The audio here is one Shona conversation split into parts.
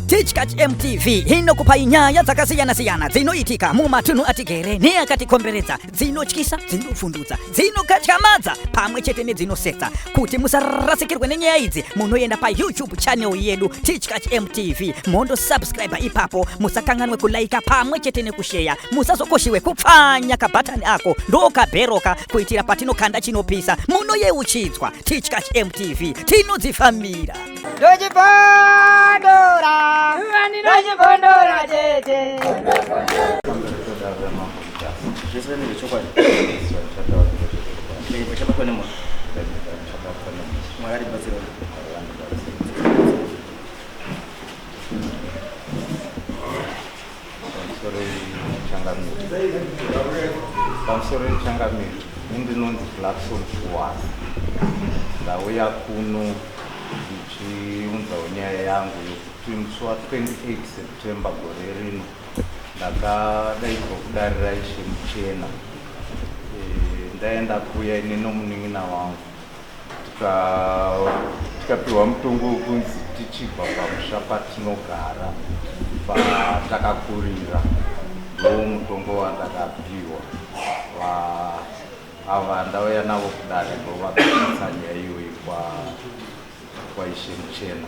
Tichkach MTV inokupai nyaya dzakasiyana-siyana dzinoitika mumatunhu atigere neakatikomberedza dzinotyisa dzinofundudza dzinokatyamadza pamwe chete nedzinosetsa kuti musarasikirwe nenyaya idzi munoenda payoutube channel yedu Tichkach MTV mondo subscribe ipapo musakanganwe kulaika pamwe chete nekusheya musazokoshiwe kupfanya kabhatani ako ndokabheroka kuitira patinokanda chinopisa munoyeuchidzwa tichkach mtv tinodzifambira ndochipondora ndochipondora tete pamusoro yechangamire pamusoro yechangamire ini ndinonzi blackson shuwana ndauya kuno ndichiunzawo nyaya yangu yekuti musi wa 28 september gore rino ndakadaidzwa kudarira ishe muchena e, ndaenda kuya ine nomunin'ina wangu tikapiwa mutongo wekunzi tichibva pamusha patinogara patakakurira ndo mutongo wandakapiwa ava ndauya navo kudare ndovakaisa nyaya iyoyi kwaishe muchena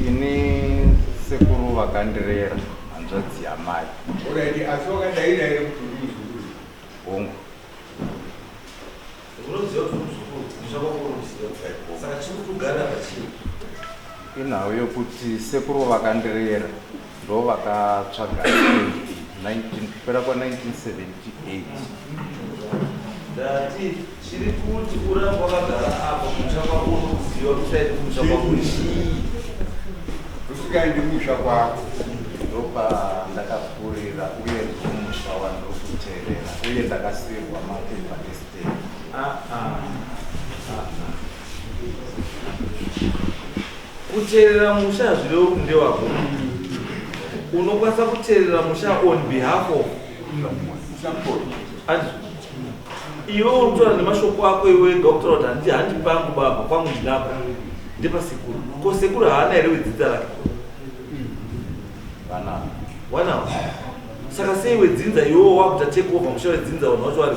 ini sekuru vakandirera hanzvadzi yamai hongu inhau yokuti sekuru vakandirera ndo vakatsvaga kupera kwa 1978 chiri kuti uramba wakagara apa kutsva kwako unoziva kuchaiti kutsva kwako chii usikaendi kutsva kwako ndopa ndakapfurira uye ndomusha wandiri kuterera uye ndakasirwa mapepa estate ah, ah. kuteerera musha hazvirevo kunde wako unokwanisa kuteerera musha on behalf of iwe unotora nemashoko ako iwe doctor kuti handi handi pangu baba kwangu ndinako ndepasekuru ko sekuru haana here wedzidza rake wanawo saka sei wedzinza iwewo wakuta take over musha wedzinza vanhu vacho vari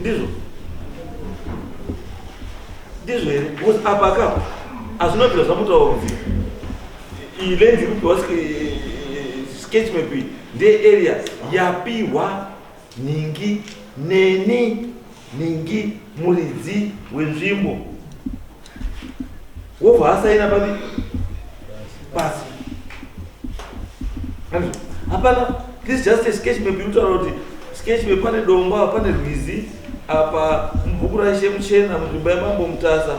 ndizvo ndizvo here because apa ka hazvina bvira zvamutaura kuti iyi lenzi ikupiwa sketch map iyi ndearea yapiwa nhingi neni Nhingi muridzi wenzvimbo wobva asaina padi pasi hapana this just a sketch map inotaura kuti sketch map pane dombo apa pane rwizi apa mubhuku raishe muchena munzvimbo yamambo mutasa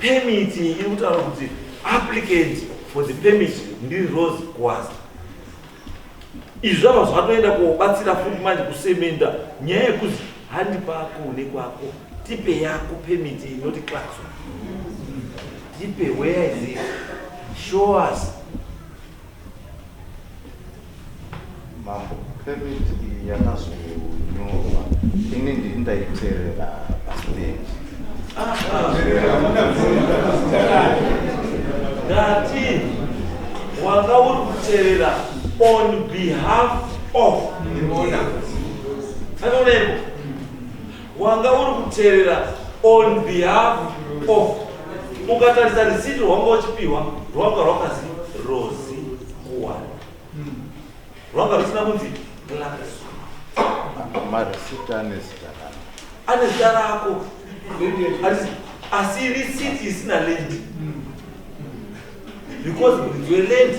Permit iri kutaura kuti applicant for the permit ndiri Rose Gwaza. Izvi zvava zvatoenda kubatsira futi manje kusemenda nyaya yekuti handi pako nekwako tipe yako permit inoti class tipe where is it show us Mambo permit iyi yakazonyorwa ini ndiri ndaiterera pastage ndati wanga uri kuterera on behalf of anooneko wanga uri kuterera on behalf of ukatarisa risiti rwanga uchipihwa rwanga rwakazi rozi kuwana rwanga rusina kunzi marisiti ane zita rako ane zita rako asi risiti isina lendi because muridzi welendi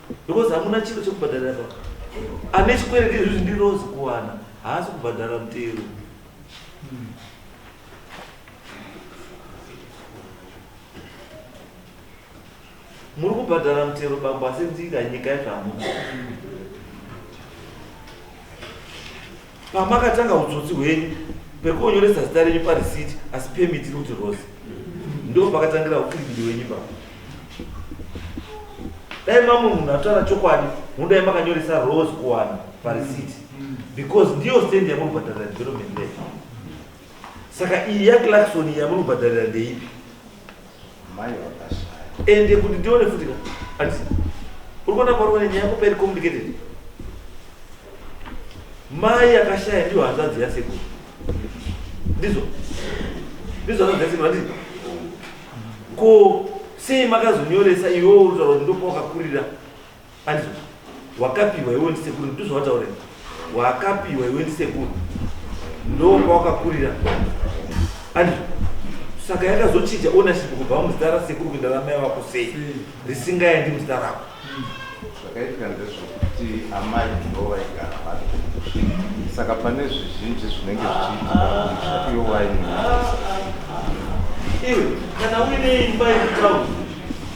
because hamuna chiro chekubhadharira baba ane chikwereti izvi zvindirozi kuwana haasi kubhadhara mutero muri kubhadhara mutero bambo asi nzira nyika yezvamuno pamakatanga utsotsi hwenyu pekonyoresa zita renyu parisiti asi pemiti iri kuti rose ndo pakatangira ukwirigidi wenyu baba dai mamwe munhu atotaura chokwadi mudai makanyoresa rose kuwana parisiti because ndiyo stand yamunobhadharira development lake saka iyi yaclarkson yamunobhadharira ndeipi ende kuti ndione futi ka andisi uri kuona kwauri kuona nyaya yako pairi complicated mai akashaya ndiyo hanzvadzi yasekuru ndizvo ndizvo hanzvadzi yasekuru andisi ko sei makazonyoresa iwewo uri kutaura kuti ndokwawakakurira Andizvo wakapiwa iwe ndisekuru ndizvo wataura wakapiwa iwe ndisekuru ndo kwawakakurira andizvo saka yakazochinja ownership kubva muzita rasekuru kuenda ramai vako sei risingaendi muzita rako zvakaitika ndezvekuti amai ndo vaigara vano saka pane zvizhinji zvinenge zvichiitika iyo waini iwe kana uine imba yekutaura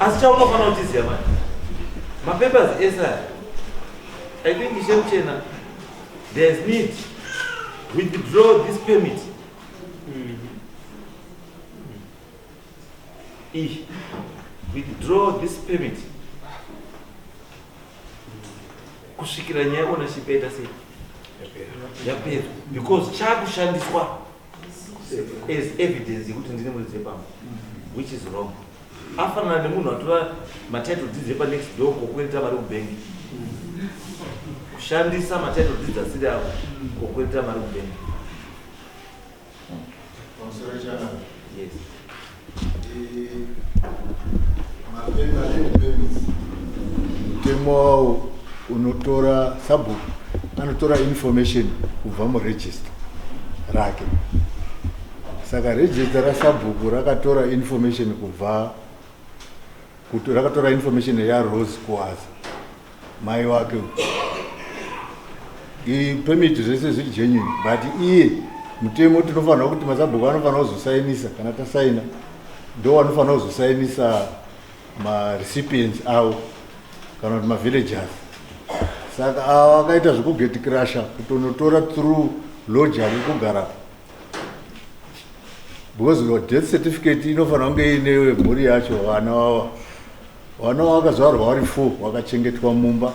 asi chaunofanira kuchiziva mani mapapers ese aya i think ishe muchena there is need withdraw this permit e withdraw this permit kusvikira nyaya ownership yaita sei yapera because chakushandiswa as evidence yekuti ndine muridzi wepamba which is wrong afanana nemunhu atora matitle deeds epanext door kokwereta mari kubhengi kushandisa matitle deeds asiri avo kokwereta mari kubhengi yes mutemo wawo unotora sabhuku anotora information kubva muregister rake saka register rasabhuku rakatora information kubva rakatora information yarose kuwaza mai wake pemiti zvese zviri genuine but iye mutemo tinofanira kuti masabhuku anofanira kuzosainisa kana tasaina ndo anofanira kuzosainisa marecipients avo kana kuti mavillagers saka avo akaita zvekugeti crusha kutonotora through lodger rekugara because death certificate inofanira kunge iine mhuri yacho vana vava Vana vakazvarwa vari four vakachengetwa mumba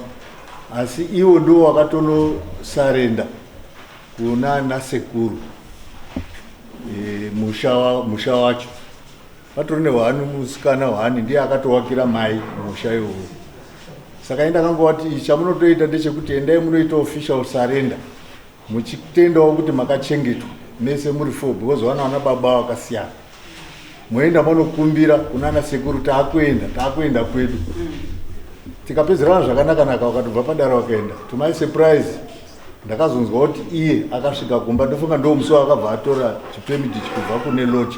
asi ivo ndivo vakatonosarenda kuna nasekuru e, musha wacho vatori nehwani musikana hwani ndiye akatovakira mai musha iwowo saka ini ndakangovati chamunotoita ndechekuti endai munoita official surrender muchitendawo kuti makachengetwa mese muri four because vana vana baba vakasiyana moenda monokumbira kunana sekuru taakuenda taakuenda kwedu tikapedzerana zvakanakanaka vakatobva padara vakaenda to my surprise ndakazonzwa kuti iye akasvika kumba ndofunga ndo musi waakabva atora chipemiti chikubva kune lodge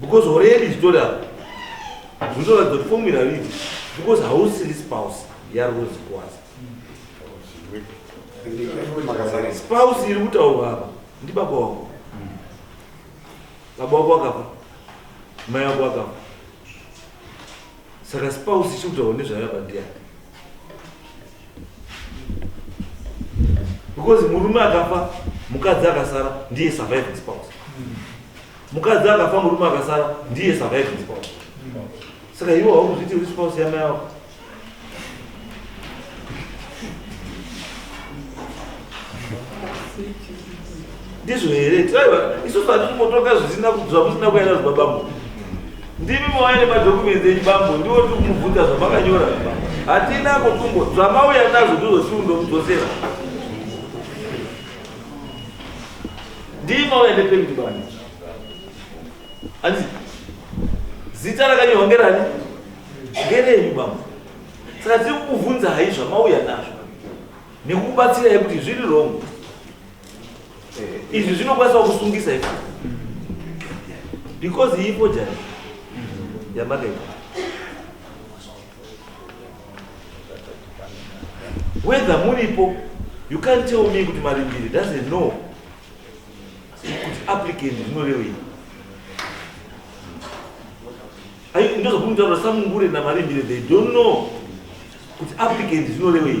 because hore yedu ichitori apo zvinotoratidza kuti fomira vidi because hausiri spouse yarozi kwazi spouse iri kutaurwa apa ndi baba wako baba wako akafa mai wako akafa saka spouse ichiri kutaurwa nezvayo apa ndiyani because murume akafa mukadzi akasara ndiye surviving spouse mm. mukadzi akafa murume akasara ndiye surviving spouse saka iwo haukuzviti uri spouse yamai avo ndizvo here tiaiwa isusu hatikumbotoka zvisina zvamusina kuenda zvibabambo ndimi mauya nemadokumenti enyu bambo ndiwo tiri kumubvunza zvamakanyora hatina kotumbo zvamauya nazvo ndizvo siundomudzosera Ndiye mauya nependi bani. Hanzi zita rakanyorwa ngerani? Ngerenyu baba. Saka tiri kukuvhunza hai zvamauya nazvo nekukubatsirai kuti zviri wrong. Eh, izvi zvinokwanisa kusungisa ipo. Because ipo jani yamakaita. whether muripo you can't tell me kuti marimbiri doesn't know kuti applicant zvinorevei ndozokunditaura samungure namarimbiri they don't know kuti applicant zvinorevei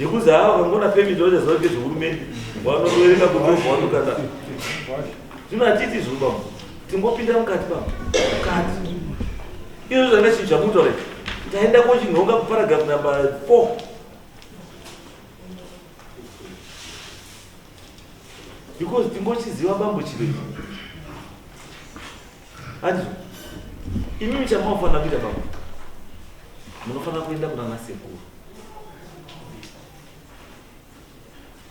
Yekuza hawa kangona permit wacha zvawo ke zvehurumende wanovereka kutovu wanu kana zvino hatiti zvino bambo tingopinda mukati bambo mukati izvo zvanga chinhu chakutore taenda kochinhonga kuparagraph number four because tingochiziva bambo chirei Hanzi imimi chamaofanira kuita baba munofanira kuenda kunana sekuru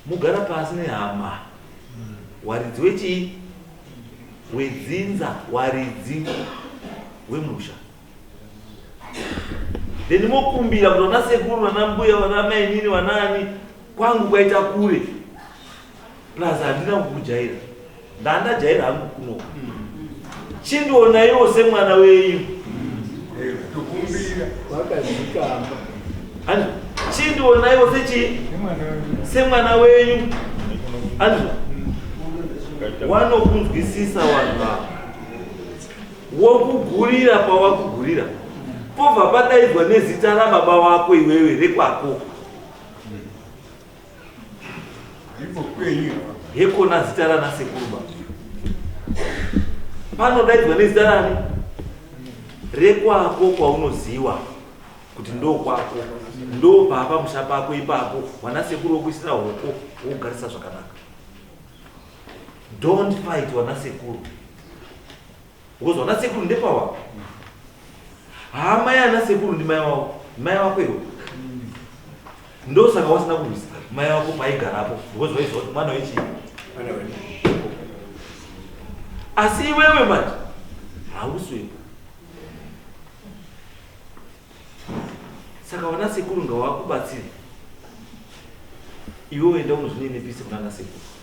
mugara pasi nehama waridzi wechii wedzinza waridzi wemusha then mokumbira kuti vana sekuru vana mbuya vana mainini vanaani kwangu kwaita kure plus handina kukujaira ndandajaira hangu kuno chindionaiwo semwana wenyu chindionaiwo sechi semwana wenyu anzwa wanokunzwisisa vanhu vavo wokugurira pawakugurira pobva padaidzwa nezita rababa wako iwewe rekwako hekona zita rana sekuruba panodaidzwa nezita rani rekwako kwaunoziwa kuti ndo kwako ndo papa musha pako ipapo wana sekuru wokuisira hoko wokugarisa zvakanaka don't fight wana sekuru Because vana sekuru ndepawa. Haa mai ana sekuru ndi mai wako. Mai wako iwe. Ndo saka wasina kurwisa mai wako paigarapo because waiziva kuti mwana wechi. Asi iwewe manje hauswe. Saka vana sekuru ngawakubatsire. Iwe uenda unozvinenepise kuna ana sekuru.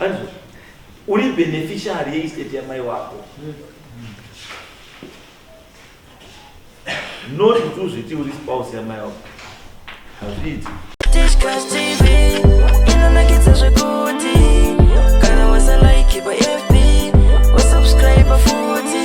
Anzwa, uri beneficiary yeestate yamai wako not kuti uzviti uri spouse yamai wako hazviiti Tishkash TV inonakidza zvekuti kana wasa like pa FB wasubscribe futi